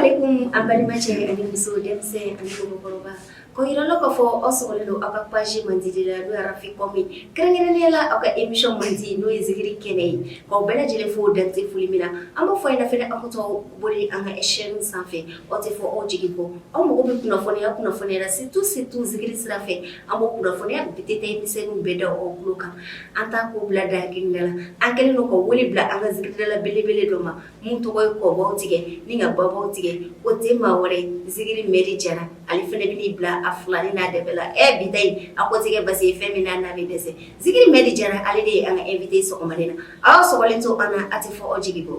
alaikum an balimacɛ ani muso denmisɛn ani mɔgɔkɔrɔba k'a yira aw la k'a fɔ aw sɔgɔlen don aw ka page mandi de la n'o ye rafi kɔmi kɛrɛnkɛrɛnnenya la aw ka émission mandi n'o ye zikiri kɛnɛ ye k'aw bɛɛ lajɛlen fo dan tɛ foli min na an b'a fɔ a ɲɛna fɛnɛ aw ka to boli an ka chaîne sanfɛ Aw tɛ fɔ aw jigi kɔ aw mago bɛ kunnafoni o kunnafoni la surtout surtout zikiri sira fɛ an b'a kunnafoni bɛɛ détail misɛnninw bɛɛ da aw tulo kan an t'a ko bila da kelen da la an kɛlen don ka wele bila an ka zikiridala belebele dɔ ma min tɔgɔ ye kɔbaw tigɛ ni ka babaw tigɛ o tɛ maa wɛrɛ Zikiri Mɛdi Jara ale fana bɛ bila a fila ni n'a de bɛ la ɛ bi yen a ko tɛ basi ye fɛn min n'a n'a bɛ dɛsɛ Zikiri Mɛdi Jara ale de ye an ka invité sɔgɔma na aw sɔgɔlen to an na a tɛ fɔ aw jigi kɔ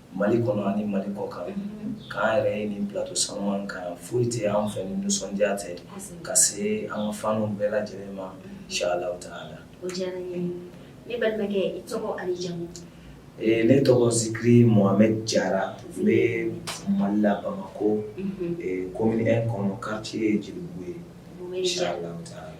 Mali kɔnɔ ani Mali kɔkan k'an yɛrɛ ye nin plateau sanuman kan foyi tɛ an fɛ ni nisɔndiya tɛ ka se an ka fanw bɛɛ lajɛlen ma inshallah taala ne tɔgɔ Zikiri Mohamed Jara n bɛ Mali la Bamakɔ commune un kɔnɔ quartier ye Jelibugu ye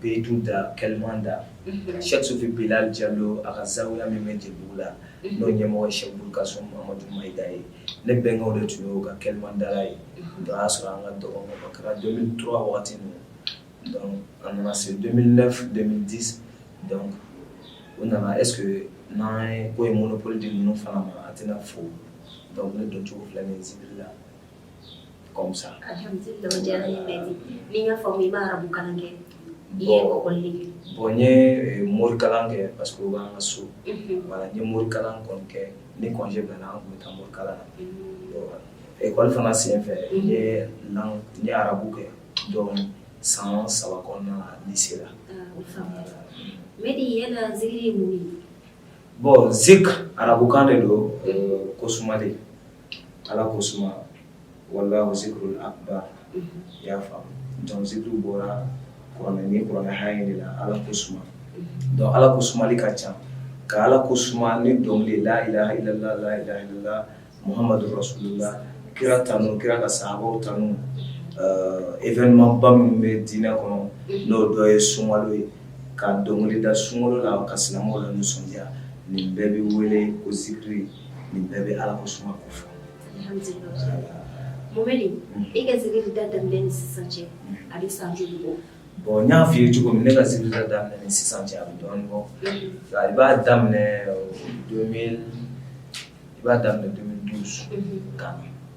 bɛ tun da kɛlɛman da sɛsufin bila ja don a ka sanya min bɛ jɛbugu la n'o ɲɛmɔgɔ sɛ ka so mahamadu da ye ne bɛnkaw de tun ye ka kɛlɛman da ye o y'a sɔrɔ an ka dɔgɔ kɛra don tora waati ninnu a nana se di u nana e n'an ye ko ye moolopoli de ninnu fana ma a tɛna fo dɔnkili doncogo filɛ nin sibiri la Bon n ye morikalan kɛ parce que o bɛ an ka so voilà n ye morikalan kɔni kɛ ni congé bɛnna an tun bɛ taa morikalan na ekɔli fana senfɛ n ye arabu kɛ donc san saba kɔnɔna na lycée la bon zik arabukan de don ko suma de Ala ko suma wala zikrul akbar i y'a faamu donc zikiri bɔra kuranɛ na kuranɛ haya de la ala ko suma donc ala ko sumali ka ca ka ala ko suma ni dɔnkili la ilaha illallah la ilaha illallah Muhamadu rasulula kira tanu kira ka sahabaw tanu événement ba minnu bɛ diinɛ kɔnɔ n'o dɔ ye sunkalo ye ka dɔnkili da sunkalo la ka silamɛw lanisɔndiya nin bɛɛ bɛ wele ko zikiri nin bɛɛ bɛ ala ko suma ko fɔ Mohamed i ka zikiri da daminɛ ni sisan cɛ a bɛ san joli bɔ bon n y'a f'i ye cogo min ne ka zikiri da daminɛ ni sisan cɛ a bɛ dɔɔnin bɔ i b'a daminɛ 2000 i b'a daminɛ 2012 kan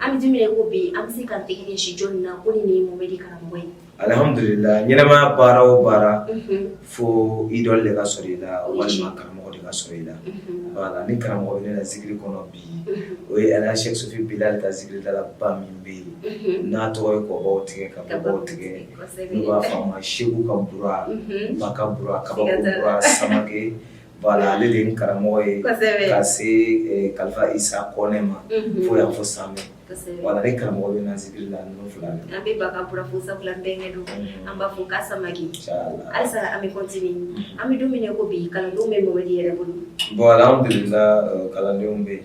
An bɛ don min na i ko bi an bɛ se ka tɛgɛ ɲɛsin jɔn de ma ko nin de ye Mohamɛdi karamɔgɔ ye? Alhamdulila ɲɛnamaya baara o baara fo idole de ka sɔrɔ i la walima karamɔgɔ de ka sɔrɔ i la voilà ni karamɔgɔ bɛ ne la zikiri kɔnɔ bi o ye Ala Sɛki Sufi Bilali ka zikiridala ba min bɛ yen n'a tɔgɔ ye kɔbaw tigɛ ka kɔbaw tigɛ n'u b'a fɔ a ma Seku ka bura Baka bura Kabako bura Samake Voilà ale de ye n karamɔgɔ ye, kosɛbɛ, ka se kalifa Isa Kone ma, unhun, fo yan fo Same, kosɛbɛ, voilà ni karamɔgɔ bɛ n na zikiri la ninnu fila bɛɛ la, an bɛ Baka Bura fo sabula an bɛnkɛ don, unhun, an b'a fo k'a Samake, inchallah, halisa an bɛ continuer an bɛ don min na i ko bi kalandenw bɛ Mohamɛdi yɛrɛ bolo, bon alihamidulila kalandenw bɛ yen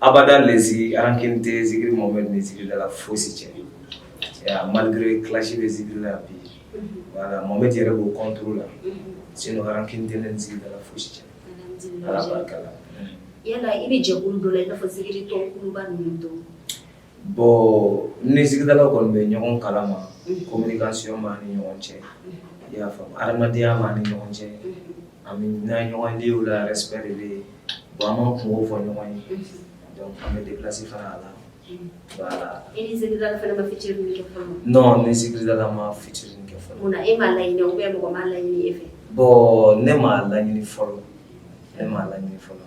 Abada lesi an kelen tɛ zikiri mɔgɔ bɛ nin zikiri la foyisi cɛ malirike kilasi bɛ zikiri la bi wala mɔ bɛ jɛra o kɔn la sen an kelen tɛ n zikiri la foyisi cɛ ala barika la i bɛ jɛ don la i' fɔ zikiri tɔba ninnu don Bon n ni zikiridala kɔni bɛ ɲɔgɔn kala ma communication b'an ni ɲɔgɔn cɛ i y'a faamu adamadenya b'an ni ɲɔgɔn cɛ an bɛ ɲɔgɔn lieu la respect bɛ yen an b'an kunko fɔ ɲɔgɔn ye an bɛ déplacer fana a la n ni zikiridala ma featuring kɛ bon ne m'a laɲini fɔlɔ ne m'a laɲini fɔlɔ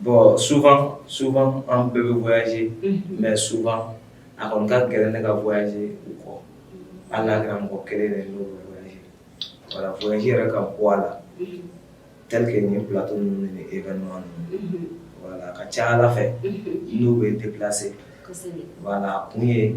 Bon souvent souvent an bɛɛ bɛ voyager unhun, mais souvent a kɔni ka gɛlɛn ne ka voyager u kɔ, hali n'a kɛra mɔgɔ kelen ye n'o bɛ voyager voilà voyager yɛrɛ ka bɔ a la tel que nin plateau ninnu ni événement ninnu, unhun, voilà a ka ca Ala fɛ, unhun, n'u bɛ déplacer kosɛbɛ, voilà a kun ye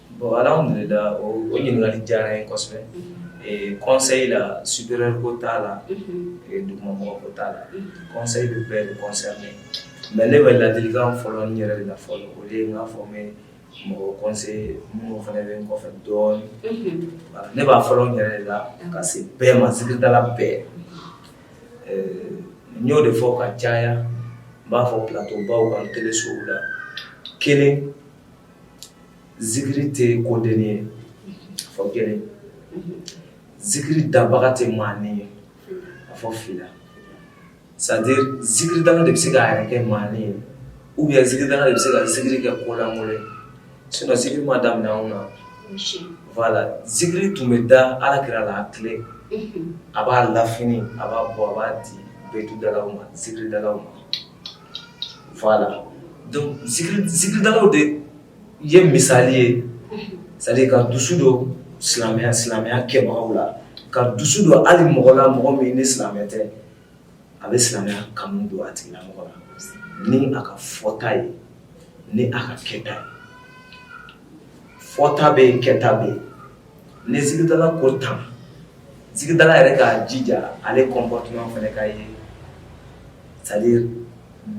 Bon alhamdulila o ɲininkali diyara n ye kosɛbɛ, unhun, conseil la supérieur ko t'a la, unhun, dugumamɔgɔ ko t'a la, unhun, conseil bɛ bɛɛ de concerner mais ne bɛ ladilikan fɔlɔ n yɛrɛ de la fɔlɔ o de ye n k'a fɔ n bɛ mɔgɔw conseiller minnu fana bɛ n kɔfɛ dɔɔnin, unhun, voilà ne b'a fɔlɔ n yɛrɛ de la ka se bɛɛ ma zikiridala bɛɛ, euh n y'o de fɔ ka caya n b'a fɔ plateau baw kan telesow la kelen zikiri tɛ kodennin ye a fɔ kelen zikiri dabaga tɛ maanin ye a fɔ fila c'est-à-dire zikiri dabaga de bɛ se k'a yɛrɛ kɛ maanin ye ou bien zikiri dabaga de bɛ se ka zikiri kɛ kolankolon ye sinon zikiri ma daminɛ anw na voilà zikiri tun bɛ da Alakira la a tile a b'a la fini a b'a bɔ a b'a di betu dalaw ma zikiri dalaw ma voilà donc zikiridalaw de ye misali ye c'est à dire ka dusu don silamɛya silamɛya kɛbagaw la ka dusu don hali mɔgɔ la mɔgɔ min ni silamɛ tɛ a bɛ silamɛya kanu don a tigilamɔgɔ la ni a ka fɔta ye ni a ka kɛta ye fɔta bɛ yen kɛta bɛ yen ni zikiridala ko tan zikiridala yɛrɛ k'a jija ale comportement fana ka ye c'est à dire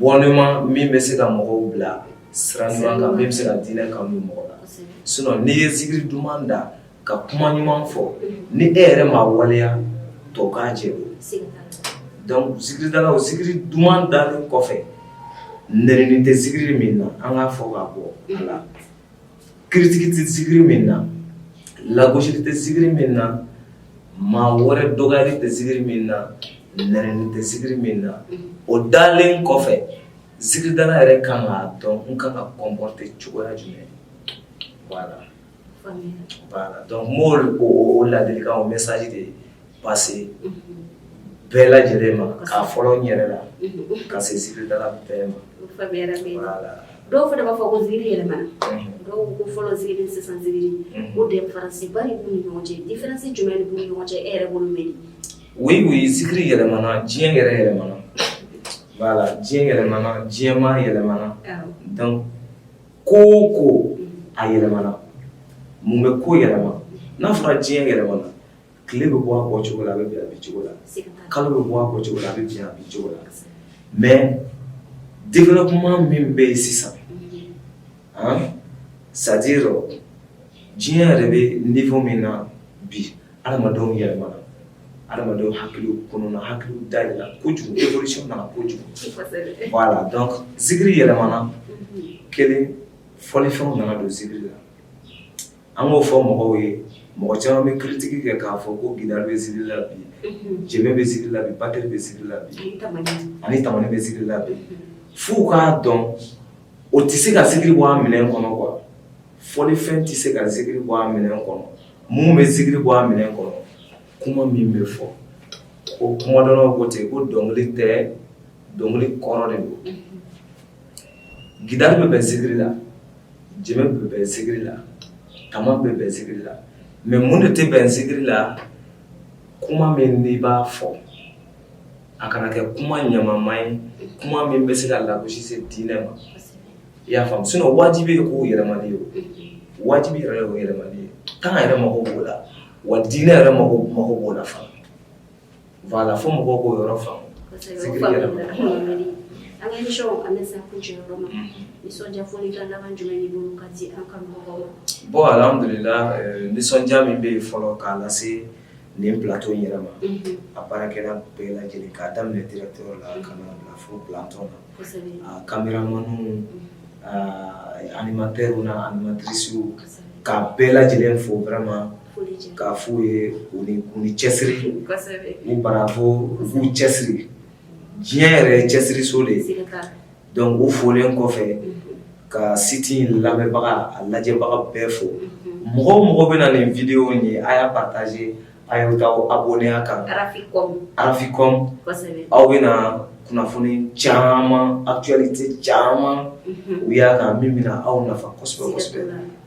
bɔnɛma min bɛ se ka mɔgɔw bila sira ɲuman kan min bɛ se ka diinɛ kanu mɔgɔ la sinon n'i ye zikiri duman da ka kuma ɲuman fɔ ni e yɛrɛ ma waleya tɔ k'a jɛ zikiridala o zikiri duman dalen kɔfɛ nɛnini tɛ zikiri min na an k'a fɔ k'a bɔ a la Critique tɛ zikiri min na, lagosili tɛ zikiri min na, maa wɛrɛ dɔgɔyali tɛ zikiri min na, nɛnini tɛ zikiri min na, o dalen kɔfɛ zikiridala yɛrɛ ka kan k'a dɔn n ka kan ka n comporter cogoya jumɛn voilà, donc n b'o ladilikan o message de passer bɛɛ lajɛlen ma k'a fɔlɔ n yɛrɛ la ka se zikiridala bɛɛ ma dɔw fana b'a fɔ ko zikiri yɛlɛmana dɔw ko fɔlɔ zikiri sisan zikiri ko différence ba de b'u ni ɲɔgɔn cɛ différence jumɛn de b'u ni ɲɔgɔn cɛ e yɛrɛ bolo mɛn oui oui zikiri yɛlɛmana diɲɛ yɛrɛ yɛlɛmana voilà diɲɛ yɛlɛmana diɲɛmaa yɛlɛmana donc ko o ko a yɛlɛmana mun bɛ ko yɛlɛma n'a fɔra diɲɛ yɛlɛmana tile bɛ bɔ a bɔcogo la a bɛ bin a bincogo la kalo bɛ bɔ a bɔcogo la a bɛ bin a bincogo la mais développement min bɛ yen sisan han c'est à dire diɲɛ yɛrɛ bɛ niveau min na bi adamadenw yɛlɛmana adamadenw hakiliw kɔnɔna hakiliw dayɛlɛla kojugu évolution nana kojugu voilà donc zikiri yɛlɛmana kelen fɔlifɛnw nana don zikiri la an k'o fɔ mɔgɔw ye mɔgɔ caman bɛ critique kɛ k'a fɔ ko gitari bɛ zikiri la bi jenbe bɛ zikiri la bi batterie bɛ zikiri la bi ani tamani bɛ zikiri la bi f'u k'a dɔn o tɛ se ka zikiri bɔ a minɛn kɔnɔ quoi fɔlifɛn tɛ se ka zikiri bɔ a minɛn kɔnɔ mun bɛ zikiri bɔ a minɛn kɔnɔ kuma min bɛ fɔ o kumadɔnnaw ko ten ko dɔnkili tɛ dɔnkili kɔrɔ de don Gitari bɛ bɛn zikiri la jenbe bɛ bɛn zikiri la taman bɛ bɛn zikiri la mais mun de tɛ bɛn zikiri la kuma min n'i b'a fɔ a kana kɛ kuma ɲamama ye kuma min bɛ se ka lagosi se diinɛ ma i y'a faamu sinon wajibi ye k'o yɛlɛmali ye wajibi yɛrɛ ye o yɛlɛmali ye temps yɛrɛ mako b'o la wa diinɛ yɛrɛ mako b'o la fana Voilà fo mɔgɔw k'o yɔrɔ faamu, kosɛbɛ, zikiri yɛrɛ ma, o faamuna, Mamɛdi, an ka emission an bɛ se an kuncɛ yɔrɔ ma, nisɔndiya folikan laban jumɛn b'i bolo k'a di an kanubagaw ma? Bon alihamidulilayi ɛɛ nisɔndiya min bɛ yen fɔlɔ k'a lase nin plateau in yɛrɛ ma, unhun, a baarakɛla bɛɛ lajɛlen k'a daminɛ directeur la ka n'a bila fo planton na, kosɛbɛ, a cameramanw ɛɛ animateurs n'a animatrices kosɛbɛ, k'a bɛɛ lajɛlen fo vraiment K'a fɔ u ye u ni u ni cɛsiri kosɛbɛ u bravo u k'u cɛsiri diɲɛ yɛrɛ ye cɛsiri so de ye siga t'a la donc u folen kɔfɛ unhun ka site in lamɛnbaga a lajɛbaga bɛɛ fo unhun mɔgɔ o mɔgɔ bena nin vidéo in ye a y'a partager a ye t'aw abonner a kan Raficom Raficom kosɛbɛ aw bena kunnafoni caaman actualité caaman unhun u y'a kan min bena aw nafa kosɛbɛ-kosɛbɛ siga t'o la